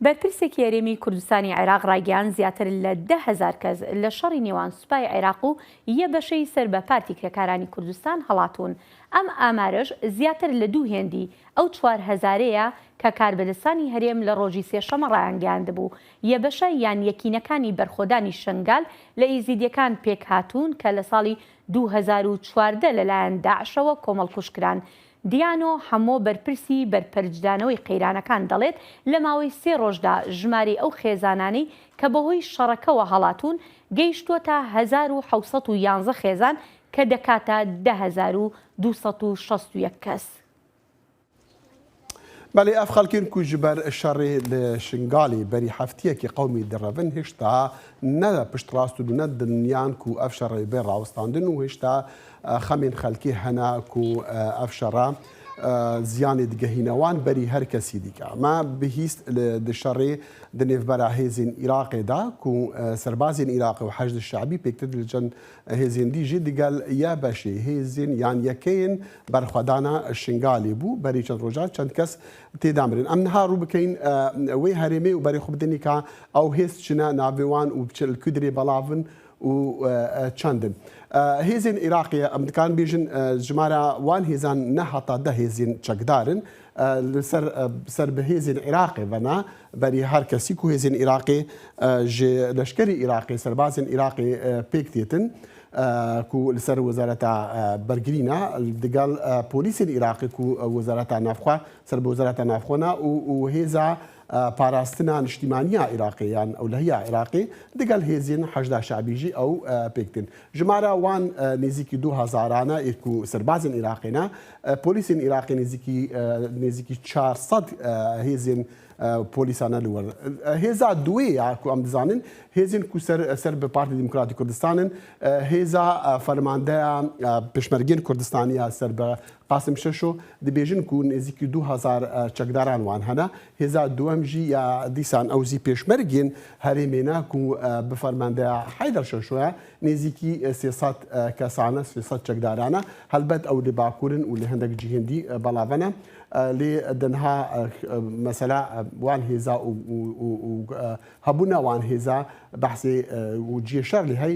بەرپرسێکی هەرێمی کوردستانی عێراق ڕایگەیاند زیاتر لە دە هەزار کەس لە شەڕی نێوان سوپای عێراق و یە بەشەی سەر بە پارتی کرێکارانی کوردستان هەڵاتوون ئەم ئامارەش زیاتر لە دوو هێندی ئەو چوار هەزارەیە کە کاربەدەستانی هەرێم لە ڕۆژی سێشەمە ڕایانگەیاندبوو یە بەشە یان یەکینەکانی بەرخۆدانی شەنگال لە ئیزیدیەکان پێکهاتوون کە لە ساڵی دوو هەزار و چواردە لەلایەن داعشەوە کۆمەڵکوژکران دیانۆ حەمۆ بەرپرسی بەرپەرچدانەوەی قەیرانەکان دەڵێت، لە ماوەی سێ ڕۆژدا ژمارەی ئەو خێزانانەی کە بەهۆی شەڕەکەوە هەڵاتوون گەیشتووەتە هەزار و حەوت سەد و یانزە خێزان کە دەکاتە دە هەزار و دوو سەد و شەست و یەک کەس. بەلی ئەف خەلکین کو جی بەر شەڕی ل شنگالی بەری هەفتیەکی قەومی دڕەڤن هشتا نە پشتڕاستن و نە دلنیان کو ئەف شەڕەێ بێ ڕاوستاندن و هشتا خەمین خەلکی هەنا کو ئەف شەڕە زیانی دگە هینەوان بەری هەر کەسی دیکە. مە بهیست ل د شەڕێ د نێڤ بەراهێزین ئیراقێ دا کو سەربازین ئیراقی و حەشد شەعبی پێکتد ل چەن هێزین دی ژی دگەل یە بەشێ هێزین یان یەکەێن بەرخوەدانە شنگالی بوو بەری چەن رۆژان چەن کەس تێدا مرن. ئەم نها روو بکەین وەی هەرێمێ و بەری خو بدەنی ک ئەو هێز چنە ناوێ وان و بچە ل کدرێ بەڵاڤن و چەندن هێزین ئیراقیە ئەمدکان بیژن ژمارە وان هێزان نە هەتا دە هێزین چەکدارن سەر بە هێزین عێراقێ بەنا بەری هەر کەسیک و هێزین ئیراقێ ژێ لەشکری ئیراقی سەربازن ئیراقی پێکتێتن کو لەسەر وەزارەتە بەرگرینە دگەڵ پۆلیسین ئیراقی و وەزارەتە نافخوا سەر بە وەزارەتە نافخۆنا و هێزا پاراستنا نیشتیمانیە عیراقێ یان ئەولهیە عیراقێ دگەل هێزین حەشدا شەعبیژی ئەو پێکتن ژمارە وان نێزیکی دوو هەزارانە ئێک و سەربازن عیراقێنە پۆلیسین عیراقی نێزیکی نێزیکی 400 هێزین پۆلیسانە لوەر هێزا دوێ یاکو ئەم دزانن هێزین کو سەر سەر بە پارتی دیموکراتی کوردستانن هێزا فەرماندەیان پێشمەرگین کوردستانیە سەر بە قاسم شەشۆ، دبێژن کوو نێزیکی دوو هەزار چەکداران وان هەنە، هێزا دووەم ژی یا دیسان ئەوزی پێشمەرگین هەرێمێنە کوو بە فەرماندەیا حەیدەر شەشۆە، نێزیکی سێ سەد کەسانە، سێ سەد چەکدارانە، هەلبەت ئەو لە باکوورن و لە هەندەک جی هندی بەڵاڤەنە، لێ دەنها مەسەلا وان هێزا و هەبوونە وان هێزا بەحسێ و جیێ شەر لێ هەی،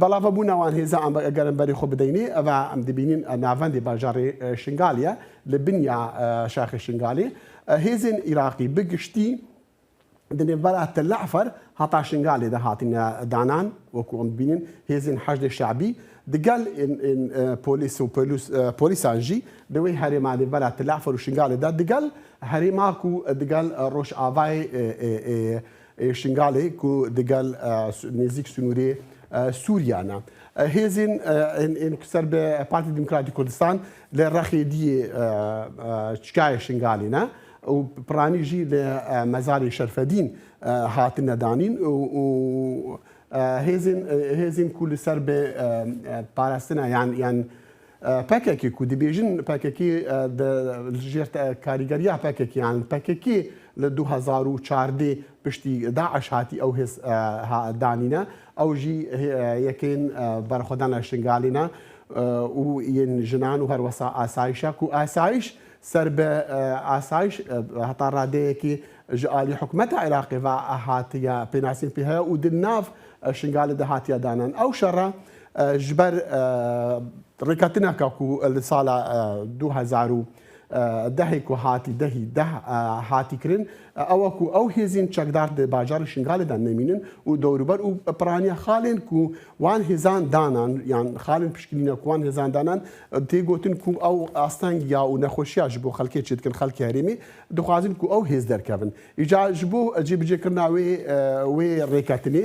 بەڵا ڤە بونا وان هێزا ئەم گەرم بەری خۆ بدەینی ئە ڤا ئەم دبینین ئە ناڤەندی باژاڕی شنگالیە لە بنیا شاخی شنگالی ئە هێزێن ئیراقی بە گشتی دە نێڤبەر ئە تە لە عفەر هەتا شنگالی دە هاتینە دانان وەکو ئەم دبینین هێزێن حەشدێ شەعبی دگەل پۆلیس و پۆلیسانژی لەوەی هەرێما نێڤبەر ئە تە لە عفەر و شنگالی دا دگەل هەرێماک و دگەل ڕۆژ ئاڤای ی شنگالی کو دگەل نیزیک سنوری سوریا نە. هێزین ین کو سەر بە پارتی دیموکراتی کوردستان لە رەخی دی چکای شنگالی نە و پرانی ژی لە مەزاری شەرفەدین هاتننە دانین و هێزین هێزین کو لە سەر بە پاراستنە یان پەکەکێ کو دەبێژن پەکەکێ دە ژێر کاریگەریا پەکەکێان پەکەکێ لە دوو هەزار و چاردە پشتی داعش هاتی ئەو هێز دانینە ئەو ژی یەکەین بەرخۆدانە شنگالینە و یەن ژنان و هەروەسا ئاسایشە کو ئاسایش سەر بە ئاسایش هەتا ڕادەیەکی ژ ئالی حکومەتە عێراقی ڤ هاتیە پێناسین پێ هەیە و دل ناڤ شنگالە دە هاتیە دانان ئەو شەڕە ژ بەر ڕیکەتنە کە کو لە ساڵە دوو هەزار و دە ی کو هاتی دە هی دە هاتی کرن ئەوە کو ئەو هێزین چەکدار دە باجاڕی شنگالێ دا نەمینن و دەوروبەر ئوو پرانیە خالێن کو وان هێزان دانان یان خالێن پشکنینە کو وان هێزان دانان تێ گۆتن کو ئەو ئاستەنگ یا و نەخوەشیا ژ بۆ خەلکێ چێد کن خەلکی هەرێمێ دخوازن کو ئەو هێز دەرکەفن ئیجا ژ بۆ جێ بجێ کرنا وێ وێ ڕێکەتنێ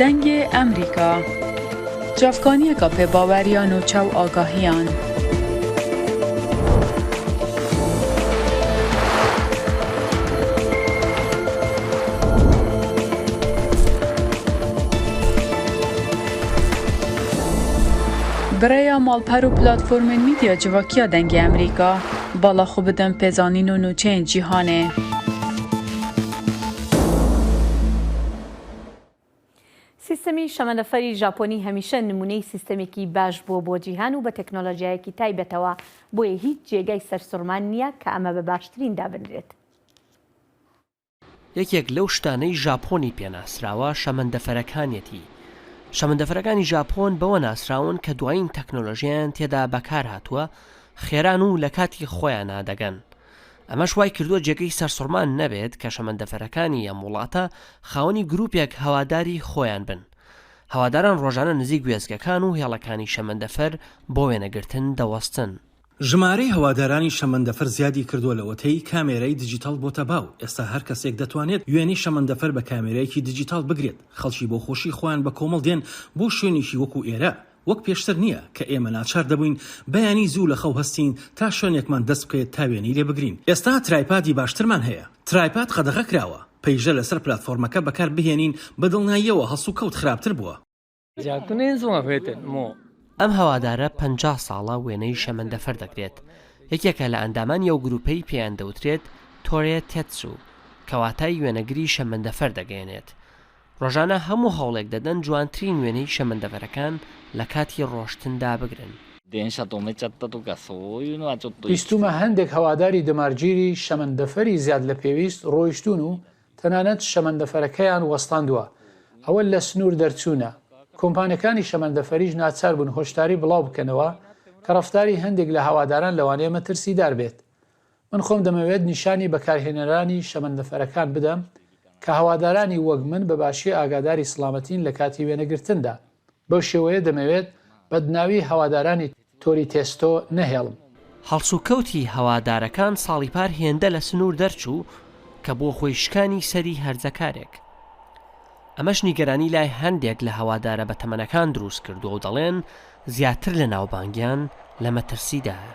دەنگێ ئەمریکا جافکانیەکا پێ باوەریان و چاو ئاگاهیان. برەیا ماڵپەر و پلاتفۆرمێن میدیا جڤاکیا دەنگی ئەمریکا باڵا خو بدەم پێزانین و نوچەیەن جیهانێ. سیستەمی شەمەندەفەری ژاپۆنی هەمیشە نمونەی سیستەمێکی باش بووە بۆ جیهان و بە تەکنۆلۆژیایەکی تایبەتەوە، بۆیە هیچ جێگای سەرسوڕمان نییە کە ئەمە بە باشترین دابنرێت. یەکێک لەو شتانەی ژاپۆنی پێ ناسراوە شەمەندەفەرەکانیەتی، شەمەندەفەرەکانی ژاپۆن بەوە ناسراون کە دوایین تەکنۆلۆژیایان تێدا بەکارهاتووە، خێران و لە کاتی خۆیانا دەگەن، ئەمەش وای کردووە جێگەی سەرسوڕمان نەبێت کە شەمەندەفەرەکانی ئەم وڵاتە خاوەنی گرووپێک هەواداری خۆیان بن. هەواداران ڕۆژانە نزیک وێستگەکان و هێڵەکانی شەمەندەفەر بۆ وێنەگرتن دەوەستن. ژمارەی هەوادارانی شەمەندەفەر زیادی کردووە لەوەتەی کامێرای دیجیتاڵ بۆتە باو، ئێستا هەر کەسێک دەتوانێت وێنەی شەمەندەفەر بە کامێرایەکی دیجیتاڵ بگرێت. خەڵکی بۆ خۆشی خۆیان بە کۆمەڵ دێن بۆ شوێنێکی وەکو ئێرە، وەک پێشتر نییە کە ئێمە ناچار دەبووین بەیانی زوو لە خەو هەستین تا شوێنێکمان دەست بکەوێت تا وێنەی لێ بگرین. ئێستا ترایپادی باشترمان هەیە. ترایپاد قەدەغە کراوە پەیژە لەسەر پلاتفۆرمەکە بەکار بهێنین، بە دڵناییەوە هەڵسوکەوت خراپتر بووە. ئەم هەوادارە پەنجا ساڵە وێنەی شەمەندەفەر دەگرێت، یەکێکە لە ئەندامانی ئەو گرووپەی پێیان دەوترێت تۆرێ تێتسو، کە واتای وێنەگری شەمەندەفەر دەگەیەنێت. ڕۆژانە هەموو هەوڵێک دەدەن جوانترین وێنەی شەمەندەفەرەکان لە کاتی ڕۆشتندا بگرن. بیستوومە هەندێک هەواداری دەمارگیری شەمەندەفەری زیاد لە پێویست ڕۆیشتوون و تەنانەت شەمەندەفەرەکەیان وەستاندووە، ئەوە لە سنوور دەرچوونە. کۆمپانیاکانی شەمەندەفەریش ناچار بوون هۆشداری بڵاو بکەنەوە کە ڕەفتاری هەندێک لە هەواداران لەوانەیە مەترسیدار بێت. من خۆم دەمەوێت نیشانی بەکارهێنەرانی شەمەندەفەرەکان بدەم کە هەوادارانی وەک من بە باشی ئاگاداری سڵامەتین لە کاتی وێنەگرتندا، بەو شێوەیە دەمەوێت بەدناوی هەوادارانی تۆری تێستۆ نەهێڵم. هەڵسوکەوتی هەوادارەکان ساڵی پار هێندە لە سنوور دەرچوو کە بووە هۆی شکانی سەری هەرزەکارێک، ئەمەش نیگەرانی لای هەندێک لە هەوادارە بەتەمەنەکان دروست کردووە و دەڵێن زیاتر لە ناوبانگیان لە مەترسیدایە.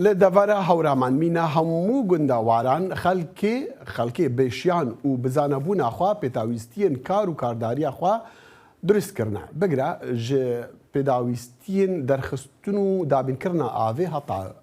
لە دەڤەرە هەورامان مینا هەموو گوندە واران خەلکێ خەلکێ بێشیان و بزانە بوونا خوا پێتاویستیین کار و کارداریا خوا دروست کردە بگرە ژ پێداویستیین دەرخستن و دابین کردە ئاڤێ هەتا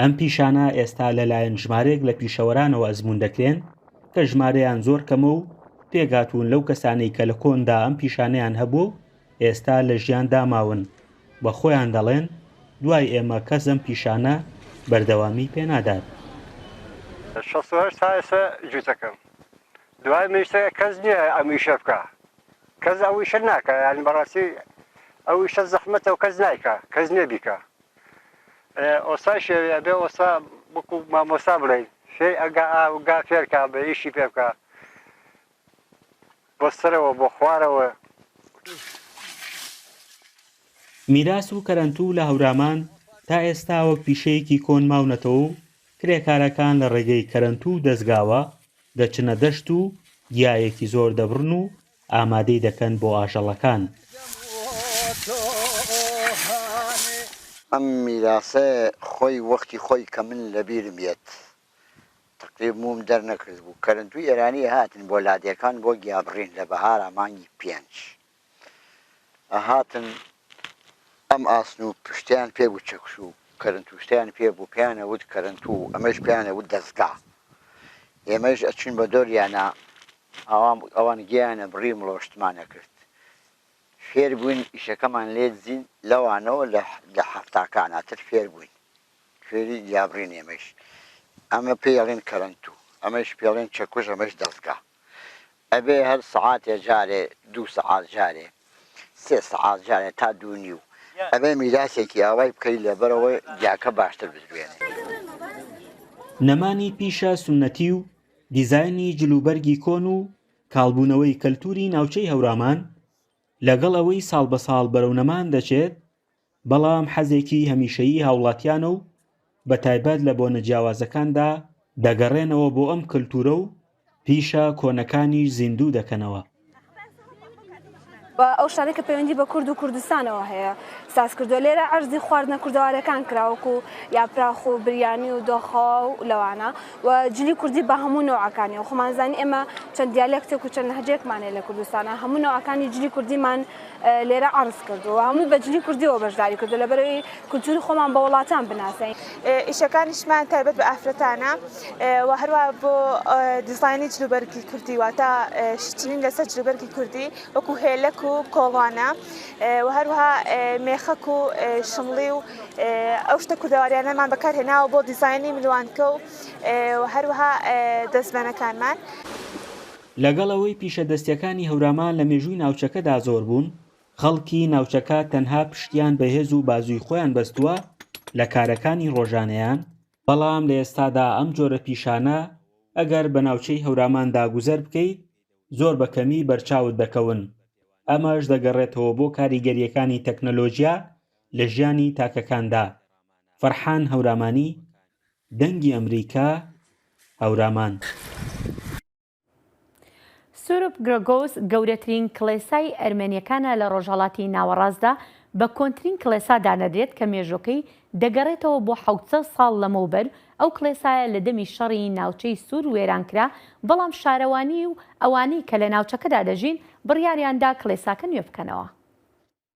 ئەم پیشانە ئێستا لەلایەن ژمارەیەک لە پیشەوەرانەوە ئەزموون دەکرێن کە ژمارەیان زۆر کەمە و پێکهاتوون لەو کەسانەی کە لە کۆندا ئەم پیشانەیان هەبووە و ئێستا لە ژیاندا ماون و خۆیان دەڵێن دوای ئێمە کەس ئەم پیشانە بەردەوامی پێنادات. شەست و هەشت تا ئێستا جووتەکەم دوای من شتە کەس نییە ئەم ئیشە بکا کەس ئەو ئیشە ناکا یانی بەڕاستی ئەو ئیشە زەحمەتە و کەس نایکا کەس نییە بیکا. ئۆستا شێوی ئەبێ ئۆستا وەکو مامۆستا بڵێی شێی ئەگا ئا گا فێر کا بە ئیشی پێ بکا بۆ سەرەوە بۆ خوارەوە. میراس و کەرەنتوو لە هەورامان تا ئێستا وەک پیشەیەکی کۆن ماونەتەوە و کرێکارەکان لە ڕێگەی کەرەنتوو و دەزگاوە دەچنە دەشت و گیایەکی زۆر دەبڕن و ئامادەی دەکەن بۆ ئاژەڵەکان. ئەم میراسە خۆی وەختی خۆی کە من لە بیرم یەت تەقریب مووم دەر نەکردبوو کەرەنتووی ئێرانی ئەهاتن بۆ لادێکان بۆ گیابڕین لە بەهارا مانگی پێنج ئەهاتن ئەم ئاسن و پشتیان پێ بوو چەکش و کەرەنتووشتیان پێ بوو پێیان ئەوت کەرەنتوو ئەمەش پێیان ئەوت دەزگا ئێمەش ئەچووین بە دۆریانا ئاوام ئەوان گیایانە بڕی مڵۆشتمانە کرد فێر بووین ئیشەکەمان لێ دزین لەوانەوە لە لە حەفتاکانا تر فێر بووین فێری گیابڕین ئێمەیش ئەمە پێی ئەڵێن کەرەنتو ئەمەیش پێ ڵێن چەکوش ئەمەش دەزگا ئەبێ هەر سەعاتێ جارێ دوو سەعات جارێ سێ سەعات جارێ تا دوو نیو ئەبێ میراسێکی ئاوای بکەی لەبەرەوەی گیاکە باشتر بدوێنێ. نەمانی پیشە سوننەتی و دیزاینی جلوبەرگی کۆن و کاڵبوونەوەی کەلتوری ناوچەی هەورامان لەگەڵ ئەوەی ساڵ بە ساڵ بەرەو نەمان دەچێت بەڵام حەزێکی هەمیشەیی هاوڵاتیانە و بە تایبەت لە بۆنە جیاوازەکاندا دەگەڕێنەوە بۆ ئەم کەلتورە و پیشە کۆنەکانیش زیندوو دەکەنەوە. و ئەو شتانەی کە پەیوەندی بە کورد و کوردستانەوە هەیە ساز کردووە لێرە ئەرزی خواردنە کوردەوارەکان کراوەکو یاپراخ و بریانی و دۆخەوە و لەوانە و جلی کوردی بە هەموو نەوەکانی و خۆمانزانی ئێمە چەند دیالێکتێک و چەند هەجێکمانێ لە کوردستانە هەموو نەوەکانی جلی کوردیمان لێرە عەرز کردووە هەمووی بە جلی کوردیەوە بەشداری کردو لەبەرەوەی کولتوری خۆمان بە وڵاتان بناسین. ئیشەکانیشمان تایبەت بە ئافرەتانە و هەروە بۆ دیزاینی جلوبەرگی کوردی واتە شتین لەسەر جلوبەرگی کوردی وەکو هێلک و کۆڵوانە و هەروها مێخەک و شمڵی و ئەو شتە کوردەواریانەمان بەکارهێناوە بۆ دیزاینی ملوانکە و هەروها دەستبەنەکانمان. لەگەڵ ئەوەی پیشە دەستیەکانی هەورامان لە مێژووی ناوچەکەدا زۆر بوون، خەڵکی ناوچەکە تەنها پشتیان بە هێز و بازووی خۆیان بەستووە لە کارەکانی ڕۆژانەیان، بەڵام لە ئێستادا ئەم جۆرە پیشانە ئەگەر بە ناوچەی هەوراماندا گوزەر بکەیت زۆر بە کەمی بەرچاوت دەکەون، ئەمەش دەگەڕێتەوە بۆ کاریگەریەکانی تەکنەلۆجیا لە ژیانی تاکەکاندا. فەرحان هەورامانی، دەنگی ئەمریکا هەورامان. سوروپ گرگوس گەورەترین کڵێسای ئەرمەنیەکانە لە ڕۆژهەڵاتی ناوەڕاستدا، بە کۆنترین کڵێسا دانەدرێت کە مێژۆکەی دەگەڕێتەوە بۆ حەوت سەد ساڵ لەمەوبەر، ئەو کڵێسایە لە دەمی شەڕی ناوچەی سور وێران کرا، بەڵام شارەوانی و ئەوانەی کە لە ناوچەکەدا دەژین بڕیاریان دا کڵێساکە نوێ بکەنەوە.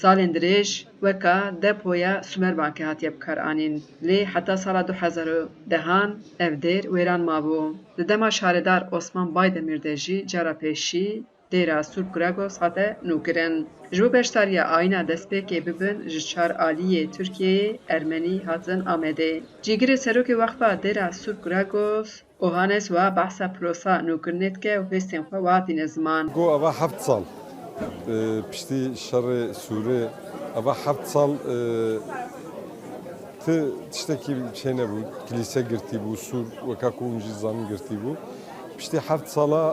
سالێن درێژ وەکا دە پۆیە سومەر بانکێ هاتیە بکار ئانین لێ حەتا سالا دو حەزار و دە هان ئەڤ دێر وێران مابو. لە دەما شارێدار ئۆسمان بای دەمیر دە ژی جا را پێشی دێرا سوور کوراگۆس هاتە نو کرن. ژ بو بەشداریا ئاینا دەسپێکێ ببن ژ چار ئالیێ تورکیێ ئەرمەنی هاتن ئامێدێ. جیگرێ سەرۆکێ وەخفا دێرا سوور کوراگۆس. ئۆهانێس وە بەحسە پرۆسە نوکردنێت کە وهێستێن خوە وادینە زمان. گو ئەڤە هەفت ساڵ پشتی شەڕێ سورێ ئەڤە هەفت ساڵ ت تشتەکی چێ نەبوو کلیسە گرتی بوو سور وەکا کو منژی زانم گرتی بوو پشتی هەفت ساڵە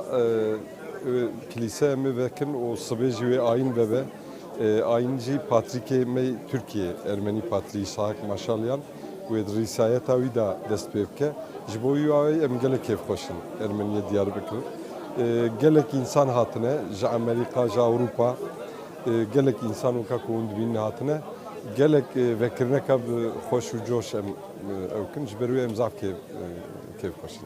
کلیسە مێ بەکن و سبێژی وێ ئاین بەبە ئاینجی پاتریکێ مەی تورکیە ئەرمەنی پاتری ساک ماشالیان وێت ریسایە تا ویدا دەست پێ بکە ژ بۆ وی واوەی ئەم گەلە کێف خۆشن ئەرمەنیە دیار بکر گەلەک ئینسان هاتنە ژە ئەمەریقا ژە ئەوروپا گەلەک ئینسان و کاک وند بین هاتنە گەلەک ڤەکردنەکە خۆش و جۆش ئەم ئەوکن ژ بەروێ ئەم زاف کێف خۆشن.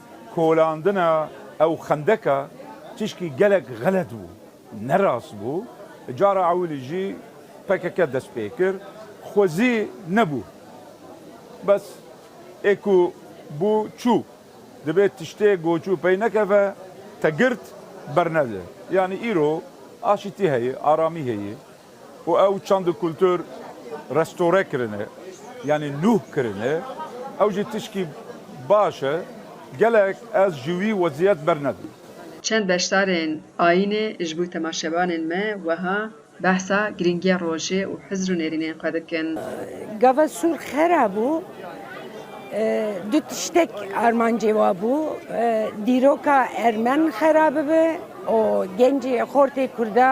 کولاندنە ئەو خەندەکە تیشکی گەلەک غەلەت بوو نەراست بوو جارا عەولیجی پەکەکە دەست پێ کرد خوەزی نەبوو بەس ئێ کو بوو چوو دبێ تشتێ گۆچوو پەی نەکەفە تە گرت بەرنەدە یانی ئیرۆ ئاشیتی هەیە ئارامی هەیە و ئەو چەند و کولتوور ڕێستۆرە کرنە یانی نوه کرنە ئەو ژی تشکی باشە گەلەک ئەز ژووی وەزیەت بەر نەدم. چەند بەشدارێن ئایینێ ژ بوو تەماشێبانێن مە وەها بەحسا گرینگیە ڕۆژێ و حزر و نێرینێن قە دکن. گاڤە سوور خەرا بوو دو تشتێک ئارمانجێ وا بوو دیرۆکا ئەرمەن خەرا ببێ و گێنجێ خۆرتێ کوردە،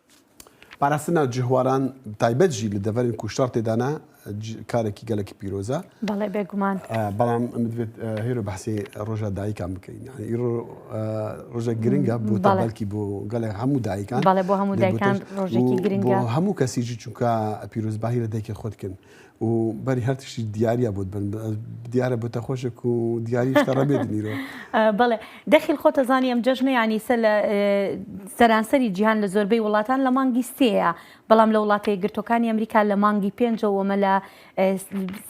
پاراستن نا جهواران تایبەت ژی لە دەڤەرن کوشتار تێدا نا ج کارەکی گەلەکی پیرۆزە. بەڵێ بێگومان. ئا بەڵام ئەمە دەبێت هێرۆ بەحسی ڕۆژا دایکان بکەین یانی ئیرۆ ئا ڕۆژێک گرنگە بۆ بەڵێ تابلکی بۆ گەلێ هەموو دایکان بەڵێ بۆ هەموو دایکان ڕۆژێکی گرنگە. بۆ هەموو کەسیجی چونکە پیرۆزبایی لە دایکی خۆت کن. و بەری هەر تشتی دیارە بۆت بن دیارە بۆتە خۆشک و دیاریش تەڕە بێت نیرۆ بەڵێ دەخیل خۆتە زانی ئەم جەژنە ینی سە لە سەرانسەری جیهان لە زۆربەی وڵاتان لە مانگی سێە بەڵام لە وڵاتە گرتوەکانی ئەمریکا لە مانگی پێنجەوەمە لە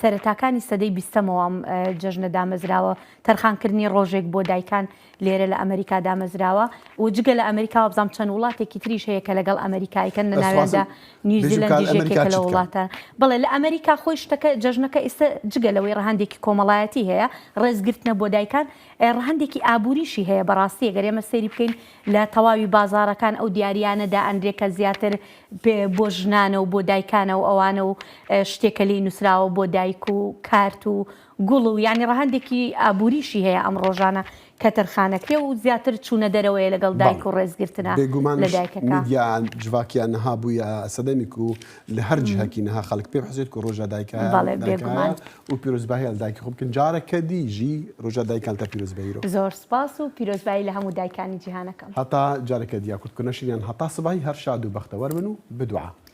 سەرتاکانی سەدەی بیستەمەوەم جەژنە دامەزراوە تەرخانکردنی ڕۆژێک بۆ دایکان لێرە لە ئەمەریکا دامەزراوە و جگە لە ئەمەریکا وابزانم چەند وڵاتێکی تریش هەیە کە لەگەڵ ئەمەریکا ئەیکەن لە ناویاندا نیوزیلەندیش یەکێکە لە وڵاتە بەڵێ لە ئەمەریکا خۆی شتەکە جەژنەکە ئیستا جگە لەوەی ڕەهەندێکی کۆمەڵایەتی هەیە ڕێزگرتنە بۆ دایکان ڕەهەندێکی ئابووریشی هەیە بەڕاستی گەر ئێمە سەیری بکەین لە تەواوی بازارەکان ئەو دیاریانە دا ئەنرێ کە زیاتر بۆ ژنانە و بۆ دایکانە و ئەوانە و شتێکە لێی نووسراوە بۆ دایک و کارت و گوڵ و یانی ڕەهەندێکی ئابووریشی هەیە ئەم ڕۆژانە کە تەرخانەکرێ و زیاتر چوونە دەرەوەیە لەگەڵ دایک و بەڵێ ڕێزگرتنە لە بێگومانیش دایکەکە. میدیا جڤاکیە نها بوویە سەدەمیک و لە هەر جهکی نها خەڵک پێ حوسێت کو ڕۆژا دایکایان بەڵێ دایکایە بێگومان. و پیرۆزباهیان لە دایکی خۆ بکەن جارەکە دی ژی ڕۆژا دایکانتە پیرۆزبەیرۆ. زۆر سپاس و پیرۆزبایی لە هەموو دایکانی جیهانەکەم. هەتا جارەکە دیە کورد کونە شیریان هەتا سبەی هەر شاد و بەختەوەر بن و بدوعا.